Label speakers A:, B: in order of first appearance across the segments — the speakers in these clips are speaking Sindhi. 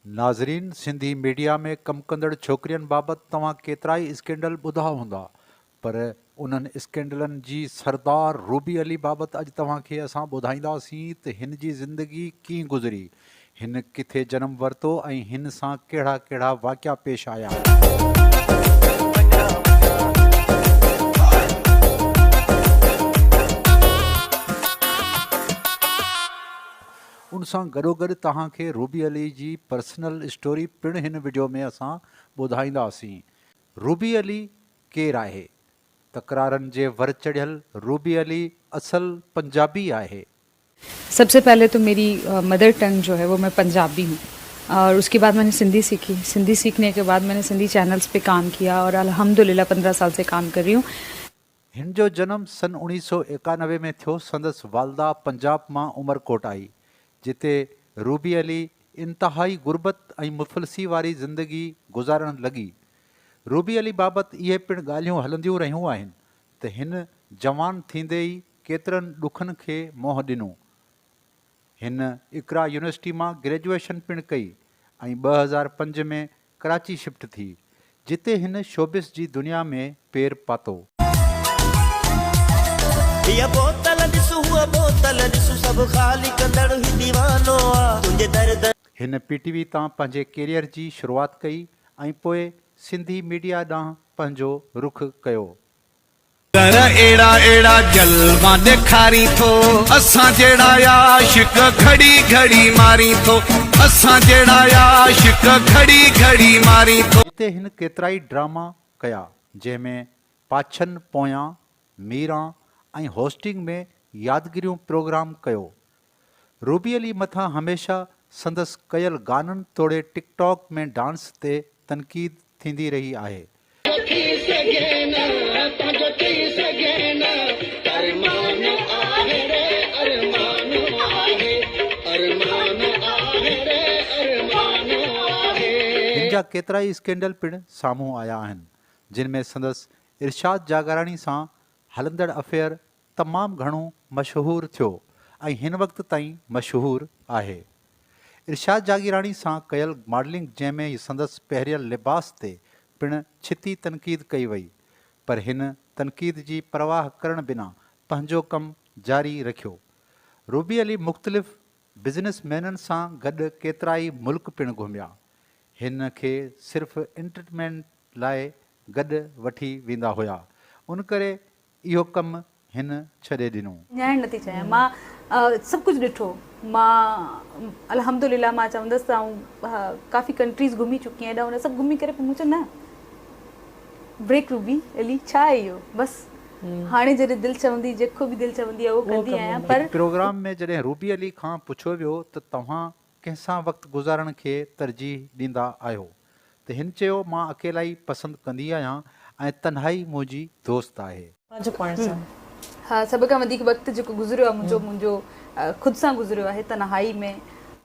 A: ناظرين سنڌي ميڊيا ۾ ڪم ڪندڙ ڇوڪرين بابت توهان ڪيترائي اسڪينڊل ٻڌا هوندا پر انهن اسڪينڊلن جي سردار روبي علي بابت اڄ توهان کي اسان ٻڌائينداسين ته هن جي زندگي ڪيئن گذري هن ڪٿي جنم ورتو ۽ هن سان ڪهڙا ڪهڙا واقعا پيش آيا. ان سان گڏوگڏ توهان کي روبي علي جي پرسنل اسٽوري پڻ هن وڊيو ۾ اسان ٻڌائينداسين. روبي علي ڪير آهي؟ تڪرارن جي ور چڙهيل روبي علي اصل پنجابي آهي. سب سي
B: پهلي تو ميري مدر ٽنگ جو هي وو مين پنجابي هون اور اسڪي بعد مين سنڌي سيکي سنڌي سيکني ڪي بعد مين سنڌي چينلس پي ڪام ڪيا اور الحمدلله پندرهن سال سي ڪام ڪر رهي هون. هن جو
A: جنم سن اوڻيهه سؤ ايڪانوي ۾ ٿيو سندس والده پنجاب مان عمرڪوٽ آئي جتي روبي علي انتهائي غربت ۽ مفلسي واري زندگي گذارڻ لڳي روبي علي بابت اهي پڻ ڳالهيون هلنديون رهيون آهن ته هن جوان ٿيندي ئي ڪيترن ڏکن کي منهن ڏنو هن اقرا يونيورسٽي مان گريجوئيشن پڻ ڪئي ۽ ٻه هزار پنج ۾ ڪراچي شفٽ ٿي، جتي هن شوبز جي دنيا ۾ پير پاتو. هيء بوتل ڏس هوء بوتل ڏس سڀ خالي ڪندڙ هي ديوانو آ تنهنجي در در. هن پي ٽي وي تان پنهنجي ڪيريئر جي شروعات ڪئي ۽ پوء سنڌي ميڊيا ڏانهن پنهنجو رخ ڪيو. ڪر
C: اهڙا اهڙا جلوا ڏيکارين ٿو اسان جهڙا عاشق گهڙي گهڙي مارين ٿو اسان جهڙا عاشق گهڙي گهڙي مارين ٿو. هتي هن ڪيترائي
A: ڊراما ڪيا جنهن ۾ پاڇن پويان، ميران ۽ هوسٽنگ ۾ يادگيريون پروگرام ڪيو روبي علي مٿان هميشه سندس ڪيل گانن توڙي ٽڪ ٽاڪ ۾ ڊانس تي تنقيد ٿيندي رهي آهي. هن جا ڪيترائي اسڪينڊل پڻ سامهون آيا آهن جن ۾ سندس ارشاد جاگاراڻي سان هلندڙ افيئر تمام گهڻو مشهور ٿيو ۽ هن وقت تائين مشهور آهي. ارشاد جاگيراڻي سان ڪيل ماڊلنگ جنهن ۾ سندس پهريل لباس تي پڻ ڇتي تنقيد ڪئي وئي پر هن تنقيد جي پرواهه ڪرڻ بنا پنهنجو ڪم جاري رکيو. روبي علي مختلف بزنس مينن سان گڏ ڪيترائي ملڪ پڻ گهميا. هن کي صرف انٽرٽينمينٽ لاء گڏ وٺي ويندا هيا ان ڪري اهو ڪم هن ڇڏي ڏنو. نياڻي نه ٿي چاهيان مان
B: سڀ ڪجهه ڏٺو مان الحمد لله مان چوندس ته آئون ڪافي ڪنٽريز گهمي چڪي آهيان هيڏانهن هوڏانهن سڀ گهمي ڪري پوء مون چيو نه بريڪ روبي علي ڇا آهي اهو بس هاڻي جڏهن دل چوندي جيڪو به دل چوندي اهو ڪندي آهيان پر هڪ پروگرام ۾ جڏهن روبي
A: علي کان پڇيو ويو ته توهان ڪنهن سان وقت گذارڻ کي ترجيح ڏيندا آهيو؟ ته هن چيو، مان اڪيلائي پسند ڪندي آهيان ۽ تنهائي منهنجي دوست آهي. پنهنجو پاڻ سان. ها
B: سڀ کان وڌيڪ وقت جيڪو گذريو آهي منهنجو منهنجو خود سان گذريو آهي تنهائي ۾.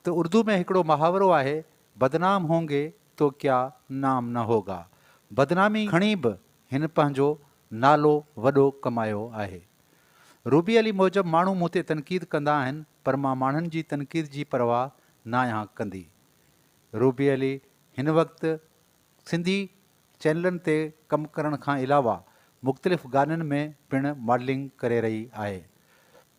B: ته اردو ۾
A: هڪڙو محاورو آهي، بدنام هونگي تو ڪيا نام نه هوگا. بدنامي کڻي به هن پنهنجو نالو وڏو ڪمايو آهي. روبي علي موجب ماڻهو مون تي تنقيد ڪندا آهن پر مان ماڻهن جي تنقيد جي پرواهه ناهيان ڪندي. روبي علي هن وقت سنڌي چينلن تي ڪم ڪرڻ کان علاوه مختلف گانن ۾ پڻ ماڊلنگ ڪري رهي آهي.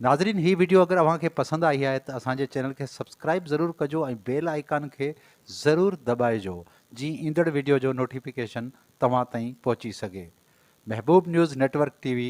A: ناظرين هي وڊيو اگر اوهان کي پسند آئي آهي ته اسان جي چينل کي سبسڪرائيب ضرور ڪجو ۽ بيل آئيڪان کي ضرور دٻائجو جيئن ايندڙ وڊيو جو نوٽيفڪيشن توهان تائين پهچي سگهي. Mehboob news network T V